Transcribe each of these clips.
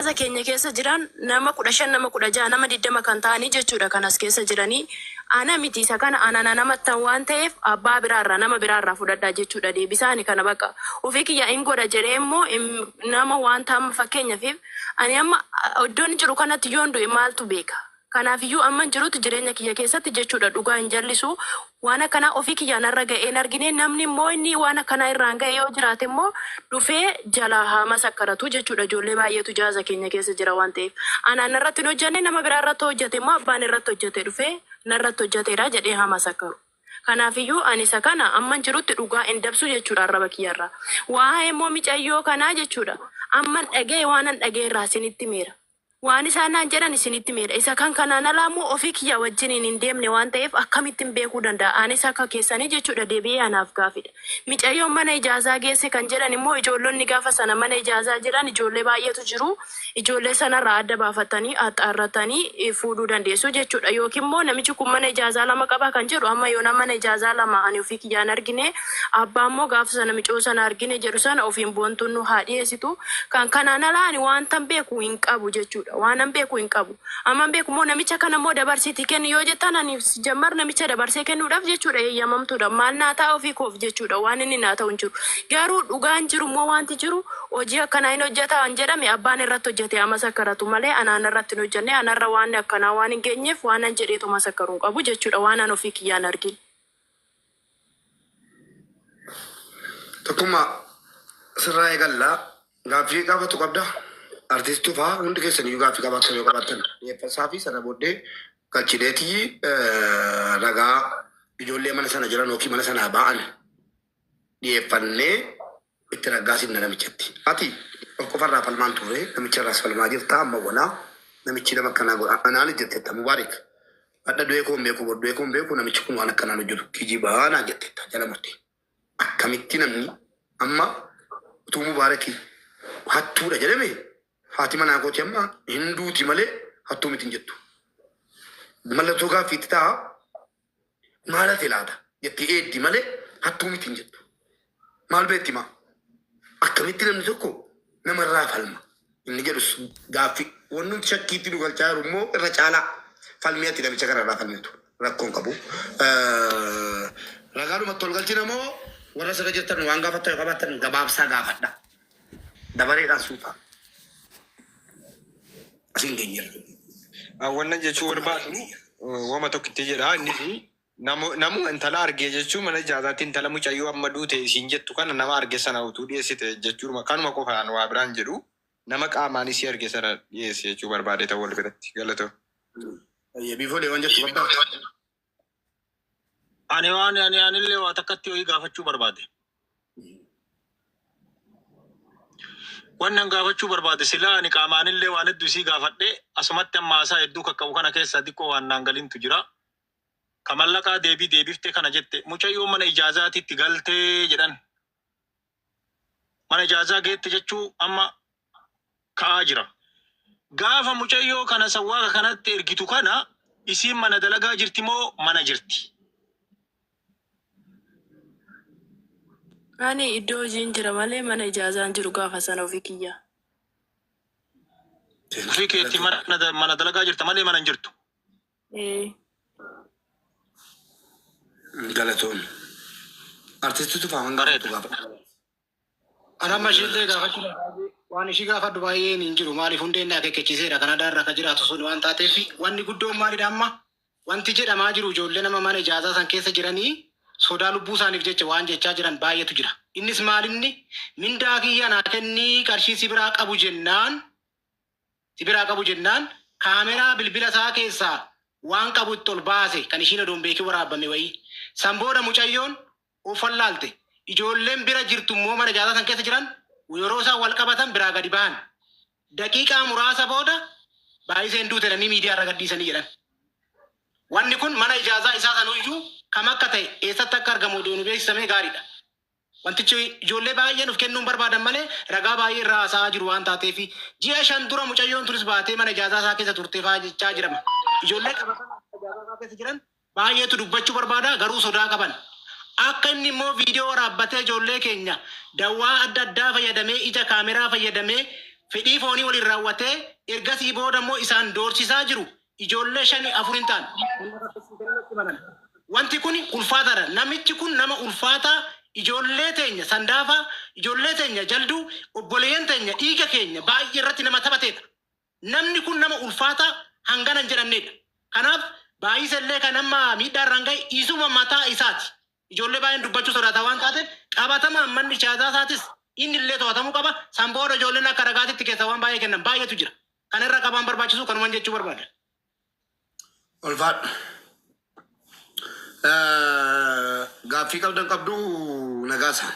Hawaasa keenya keessa jiran nama 15, nama 16, nama 20 kan ta'anii jechuudha kan as keessa jiranii. Ana miti isa kana ana nan amattan waan ta'eef abbaa biraa irraa nama biraa irraa fudhadhaa jechuudha deebisaa ani kana baqa ofii kiyyaa in godha jedhee immoo im nama waanta amma fakkeenyafiif ani amma iddoon jiru kanatti yoon du'e maaltu beeka Kanaafiyyuu amman jirutti jireenya kiyya keessatti jechuudha dhugaa hin jallisu. Waan akkanaa ofii kiyyaa narra ga'ee hin argine. Namni immoo inni waan akkanaa irraan ga'e yoo jiraate immoo dhufee jalaa haa masakkaratu jechuudha. Ijoollee baay'eetu jaaza keenya keessa jira waan ta'eef. Anaan narratti hin hojjanne nama biraa irratti hojjate immoo abbaan irratti hojjate dhufee narratti hojjateera jedhee haa masakkaru. Kanaafiyyuu ani isa kana amman jirutti dhugaa hin dabsu jechuudha arraba kiyya irraa. Waa'ee immoo micayyoo kanaa jechuudha amman dhaga'e waanan dhaga'e irraa isinitti himeera. Waan isaan naan jedhan isinitti himeera. Isa kan kanaan alaa immoo ofii kiyyaa wajjiniin hin deemne waan ta'eef akkamittin beekuu danda'a? Anis akka keessanii jechuudha deebi'ee anaaf gaafidha. Micayyoon mana ijaazaa geesse kan jedhan immoo ijoollonni gaafa sana mana ijaazaa jiran ijoollee baay'eetu jiru. Ijoollee sanarraa adda baafattanii, axxaarrattanii, fuudhuu dandeessu jechuudha. Yookiin immoo namichi kun mana ijaazaa lama qaba kan jedhu amma yoonaa mana ijaazaa lama ani ofii kiyyaa hin argine. Abbaa immoo gaafa sana micoo sana argine jedhu sana ofiin boontuun nu haa dhiyeessitu. Kan kanaan alaa ani waantan beeku hin qabu jechuudha. Waanan beeku hin qabu. Amman beeku immoo namicha kana immoo dabarsiitii kenni yoo jettan ani sijammar namicha dabarsee kennuudhaaf jechuudha eeyyamamtuudha. Maal naa ta'a ofii koof jechuudha waan inni naa ta'u hin jiru. Garuu dhugaan jiru immoo waanti jiru hojii akkanaa hin hojjeta an jedhame abbaan irratti hojjete haa masakkaratu malee ana anarratti hin hojjenne anarra waanni akkanaa waan hin geenyeef waanan jedhee too masakkaru hin qabu jechuudha waan an ofii kiyyaan argin. Tokkummaa sirraa eegallaa gaaffii gaafatu qabda. Artiistuu fa'aa hundi keessan iyyuu gaaffii qabaatan yoo qabaatan dhiyeeffasaa fi sana booddee galchineetii eh, ragaa ijoollee mana sana jiran yookiin mana sanaa ba'an dhiyeeffannee Itti raggaasinna namichatti. Ati of qofarraa falmaa hin turre namicharraas falmaa jirta amma wala namichi nama akkanaa godha anaanis jettetta Mubaarik hadha du'ee koo hin beeku bor du'ee koo hin beeku namichi kun waan akkanaan hojjetu kijiba naan jettetta jala murte akkamitti namni amma utuu Mubaaraki hattuudha jedhame haati manaa kooti amma hin duuti malee hattuu miti hin jettu mallattoo gaaffiitti ta'a Maal hafe laata? jetti Eeddi malee hattuu miti hin jettu. Maal beekti maa? Akkamitti namni tokko namarraa falma? inni jedhus gaaffi. Wannumti shakkiitti nu galchaa jiru immoo irra caalaa falmii ati namicha kanarraa falmitu rakkoo hin qabu. Ragaadhumatti wal galchina moo warra asirra jirtan waan gaafattan yoo qabaattan gabaabsaa gaafadhaa. Dabareedhaan suuta asiin geenyeerra. Ah, Wannan jechuu barbaadu eh, wama tokkitti jedha inni fi namu- namuma intala argee jechuun mana ijaazaatti intala mucayyoo amma duute isiin jettu kana nama arge sana utuu dhiyeessite jechuudha kanuma qofaan waa biraan jedhu nama qaamaan isii arge sana dhiyeesse jechuu barbaade ta'uu wal biratti galatoo. Biifoolee waan jettu barbaadu. Ani waan ani anillee waa takkatti ho'i gaafachuu barbaade. Wannan gaafachuu barbaade silaa ani qaamaanillee waan hedduu isii gaafadhe asumatti amma haasaa hedduu kakka'u kana keessaa diqqoo waan naan galintu jira. Ka mallaqaa deebii deebiftee kana jette mucayyoon mana ijaazaatitti galtee jedhan. mana ijaazaa geette jechuu amma ka'aa jira. Gaafa mucayyoo kana sawwaaqa kanatti ergitu kana isiin mana dalagaa jirti moo mana jirti? Ani iddoo hojiin jira malee mana ijaazaan jiru gaafa sana ofii kiyyaa. Ofii keetti mana mana dalagaa jirta malee mana hin jirtu. Ee. Galatoon. Artisti tufaa hanga Bareeda. tokko gaafa. Kan amma isheen ta'e gaafachuu danda'a. Waan ishii gaafadhu baay'een hin jiru. Maaliif hundeen naa kekkechiiseera. Kan adaarra akka jiraatu sun waan taateef wanni guddoon maalidha amma? Wanti jedhamaa jiru ijoollee nama mana ijaazaa san keessa jiranii sodaa lubbuu isaaniif jecha waan jechaa jiran baay'eetu jira. Innis maalinni mindaa kiyya naa kennii qarshii si biraa qabu jennaan si biraa qabu jennaan kaameraa bilbila isaa keessaa waan qabu itti ol baase kan ishiin odoo hin beekin waraabbame wayii. San booda mucayyoon of wallaalte. Ijoolleen bira jirtu immoo mana ijaasaa san keessa jiran yeroo isaan wal qabatan biraa gadi bahan. Daqiiqaa muraasa booda Baayiseen duute jedhanii miidiyaa irra gadhiisanii jedhan. Wanni kun mana ijaasaa isaa sanuyyuu kam akka ta'e eessatti akka argamu odoo nu beeksisa mee gaariidha. Wantichi ijoollee baay'ee nuuf kennuun barbaadan malee ragaa baay'ee irraa haasa'aa jiru waan taateefi. Ji'a shan dura mucayyoon tunis baatee mana ijaazaa isaa keessa turte fa'aa jechaa jirama. Ijoollee qabatamaan mana ijaazaa isaa keessa jiran baay'eetu dubbachuu barbaada garuu sodaa qaban. Akka inni immoo viidiyoo waraabbatee ijoollee keenya dawwaa adda addaa fayyadamee ija kaameraa fayyadamee fedhii foonii waliin raawwatee ergasii booda immoo isaan doorsisaa jiru Ijoollee shanii afur hin taane kan na rakkisiisan natti himan. Wanti kun ulfaataadha. Namichi kun nama ulfaataa ijoollee teenya sandaafaa, ijoollee teenya jalduu, obboleeyyan teenya dhiiga keenya baay'ee irratti nama taphateedha. Namni kun nama ulfaataa hangana hin jedhamneedha. Kanaaf Baayise illee kan amma miidhaa irraan ga'e isuma mataa isaati. Ijoollee baay'een dubbachuu sodaata waan taateef qabatamaan manni ijaazaa isaatis inni illee to'atamuu qaba. San booda ijoolleen akka ragaatitti keessaa waan baay'ee kennan baay'eetu jira. Kana irra qabaan barbaachisu kanuman jechuu barbaada. Ulfaadhu. Gaaffii qabdan qabdu nagaasa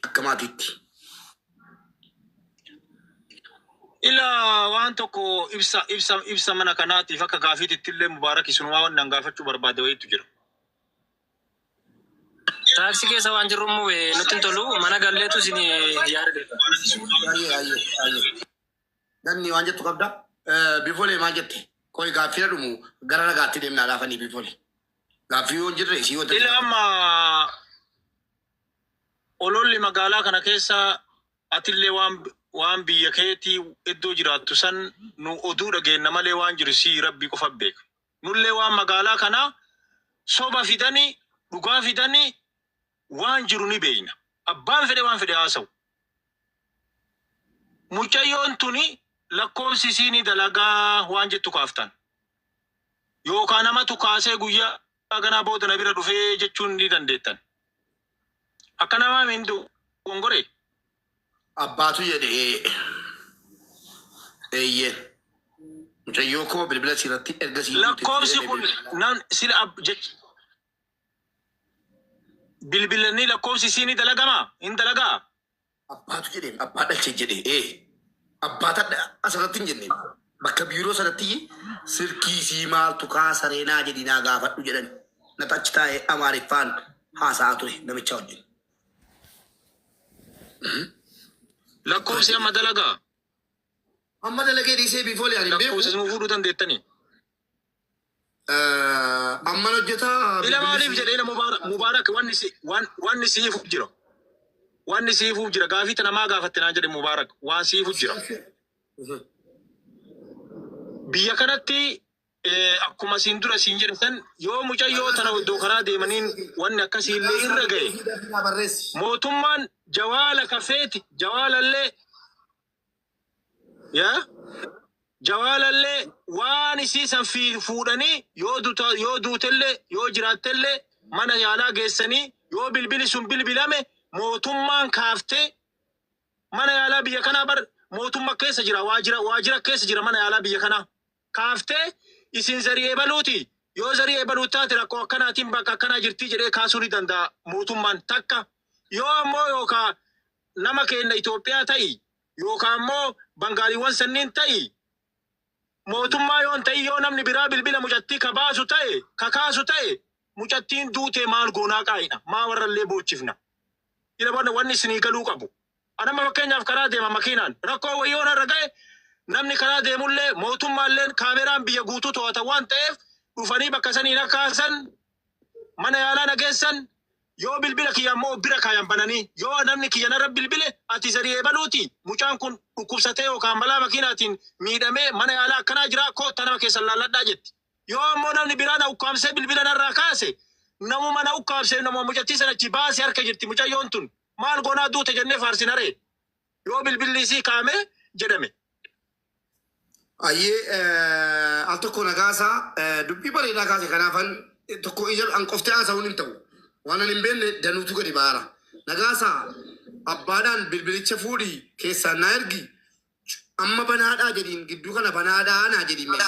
akka maatiitti. Ila waan tokko ibsa ibsa ibsa mana kanaatiif akka gaafiititti illee mubaarak isunumaa waan nan gaafachuu barbaade wayiitu jira. Taaksii keessa waan jirru immoo eh, nutti hin tolu. Mana galleetu isin yaada. Ayyee ayyee ayyee. Danni waan jettu qabda. Bifole maal jette? Qoy gaaffii dhumu gara ragaatti deemnaa laafanii bifole. Gaaffii yoo hin jirre isii yoo Ila amma ololli magaalaa kana keessa atillee waan waan biyya keetii iddoo jiraattu san nu oduu dhageenna malee waan jiru sii rabbii qofa beeka. Nullee waan magaalaa kana soba fidani dhugaa fidani Waan jiru ni beeyna. Abbaan fedhe waan fedhe haa haasa'u. Mucayyoon tuni lakkoofsi isii ni dalaga waan jettu kaaftaan. Yookaa namatu kaasee guyyaa ganaa booda na bira dhufee jechuun ni dandeettan. Akka namaa mi hin dogongoree? Abbaatu jedhe ee. Eeyyeen. Mucayyoo koo bilbila sii irratti erga sii duute Lakkoofsi kun nan sila ab jech. bilbilanii lakkoofsi isii ni dalagamaa? Hin dalagaa? Abbaatu jedheen abbaa dhalche jedhe ee abbaa tadha asirratti hin jenne bakka biiroo sanatti silkii isii maaltu kaasaree naa jedhi naa gaafadhu jedhan nata achi taa'ee amaariffaan haasa'aa ture namichaa wajjin. Lakkoofsi amma dalagaa? Amma dalagee dhiisee biifoolee ani hin beeku. Lakkoofsa isin fuudhuu dandeettanii? Eh, Amman hojjetaa Ila maaliif bilbilisii. jedhe ila Mubaarak Mubaarak wanni si waan wanni siifuuf jira. Wanni siifuuf jira gaafii tana maa gaafatte naan jedhe Mubaarak waan siifuuf jira. Mhm. Biyya kanatti eh, akkuma siin dura siin jedhe san yoo mucayyoo tana iddoo karaa deemaniin wanni akkasii illee irra ga'e Barreessi. mootummaan jawaala kafeeti jawaalallee yaa jawaalallee waan isii san fi fuudhanii yoo duta yoo duutellee yoo jiraattellee mana yaalaa geessanii yoo bilbili sun bilbilame mootummaan kaaftee mana yaalaa biyya kanaa bar mootumma keessa jira waajira waajira keessa jira mana yaalaa biyya kanaa kaafte isin zarii ebaluuti yoo zarii ebaluu taate rakkoo akkanaatiin bakka akkanaa jirtii jedhee kaasuu ni danda'a mootummaan takka yoo ammoo yookaa nama keenna Itoophiyaa ta'i yookaa ammoo bangaaliiwwan sanniin ta'i mootummaa yoon ta'in yoo namni biraa bilbila mucattii ka baasu ta'e ka kaasu ta'e mucattiin duutee maal goonaa qaa'idha maa warrallee boochifna ila wanni isinii galuu qabu An amma fakkeenyaaf karaa deema makiinaan rakkoo wayii yoo narra ga'e namni karaa deemullee mootummaalleen kaameraan biyya guutuu to'ata waan ta'eef dhufanii bakka sanii na kaasan mana yaalaa na geessan yoo bilbila kiyya ammoo of bira kaayan bananii yoo namni kiyya narra bilbile ati zarii eebaluuti mucaan kun dhukkubsatee yookaan balaa makiinaatiin miidhamee mana yaalaa akkanaa jiraa koottaa nama keessan laalladhaa jetti. Yoo ammoo namni biraa na ukkaamsee bilbila narraa kaase namuma na ukkaamse namuma mucattii sana achi baase harka jirti mucayyoon tun. Maal goonaa duute jennee faarsinaree? Yoo bilbilli isii kaa'ame jedhame. Ayyee eh, al tokko nagaasaa eh, dubbii bareedaa kaase kanaafan eh, tokko ija an qoftee haasa'uun hin ta'u. Waan an hin beekne danuutu gadi ba'aara. Nagaasaa abbaadhaan bilbilicha fuudhi keessaan naa ergi amma banaadhaa jedhiin gidduu kana banaadhaa naa jedhiin mee.